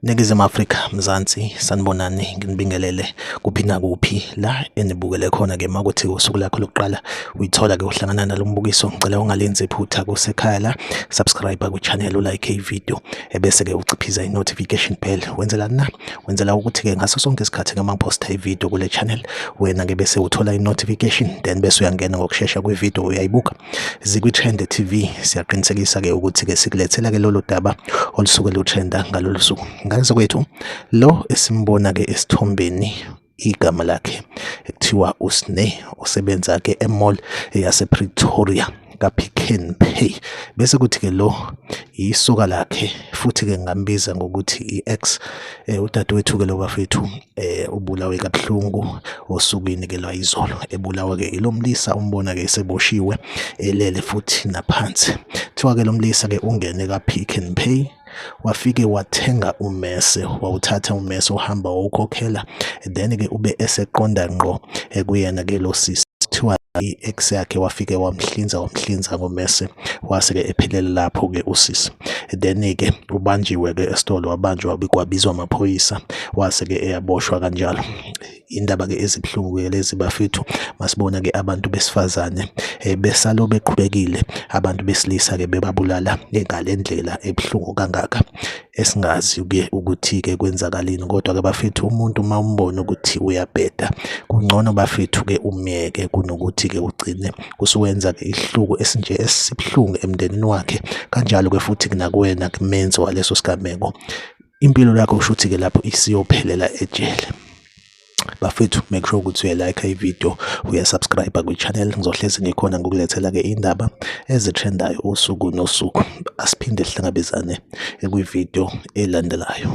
Ningizimu Afrika Mzansi sanibonani nginibingelele kuphi nakuphi la enibukele khona ke makuthi usuku lakho lokuqala uyithola ke uhlangana nalombukiso ngicela ungalenzi iphutha kusekhaya la subscribe ku channel u like i video ebese-ke uciphiza i-notification bell wenzela na wenzela ukuthi-ke ngaso sonke isikhathi ngama ngiphosta ividiyo kule channel wena-ke bese uthola i-notification then bese uyangena ngokushesha kwividiyo uyayibuka zikwi-trend tv siyaqinisekisa-ke ukuthi-ke sikulethela-ke lolo daba olusuke lutrenda ngalolu suku ngaze kwethu lo esimbona-ke esithombeni igama lakhe ekuthiwa uSne osebenza ke emall yase Pretoria kaPick n Pay bese kuthi ke lo yisoka lakhe futhi ke ngambiza ngokuthi iEx eh, udadewethu ke lo bafethu eh, ubulawe kabuhlungu osukwini ke lwayizolo ebulawa ke ilomlisa umbona ke seboshiwe elele futhi naphansi kuthiwa ke lomlisa ke ungene kaPick n Pay wafike wathenga umese wawuthatha umese uhamba wawukhokhela then ke ube eseqonda ngqo ekuyena ke lo sisi kuthiwa i-ex yakhe wafike wamhlinza wamhlinza ngomese wase-ke ephelele lapho-ke usisi then-ke ubanjiwe-ke esitolo wabanjwa kwabizwa amaphoyisa wase-ke eyaboshwa kanjalo indaba ke ezibuhlungu ke lezi bafethu masibona ke abantu besifazane eh, besalo beqhubekile abantu besilisa ke bebabulala ngalendlela ebuhlungu kangaka esingazi ke ukuthi ke kwenzakalini kodwa ke bafethu umuntu uma umbona ukuthi uyabheda kungcono bafethu ke umyeke kunokuthi ke ugcine usuwenza ke ihluku esinje esibuhlungu emndenini wakhe kanjalo ke futhi kunakuwena kumenzi waleso sigameko impilo yakho ushuthi ke lapho isiyophelela ejele bafethu make sure ukuthi uyalike ivideo uyasubscribe kwichannel ngizohlezi ngikhona ngokulethela-ke iy'ndaba ezitrendayo usuku nosuku asiphinde sihlangabezane kwivideo elandelayo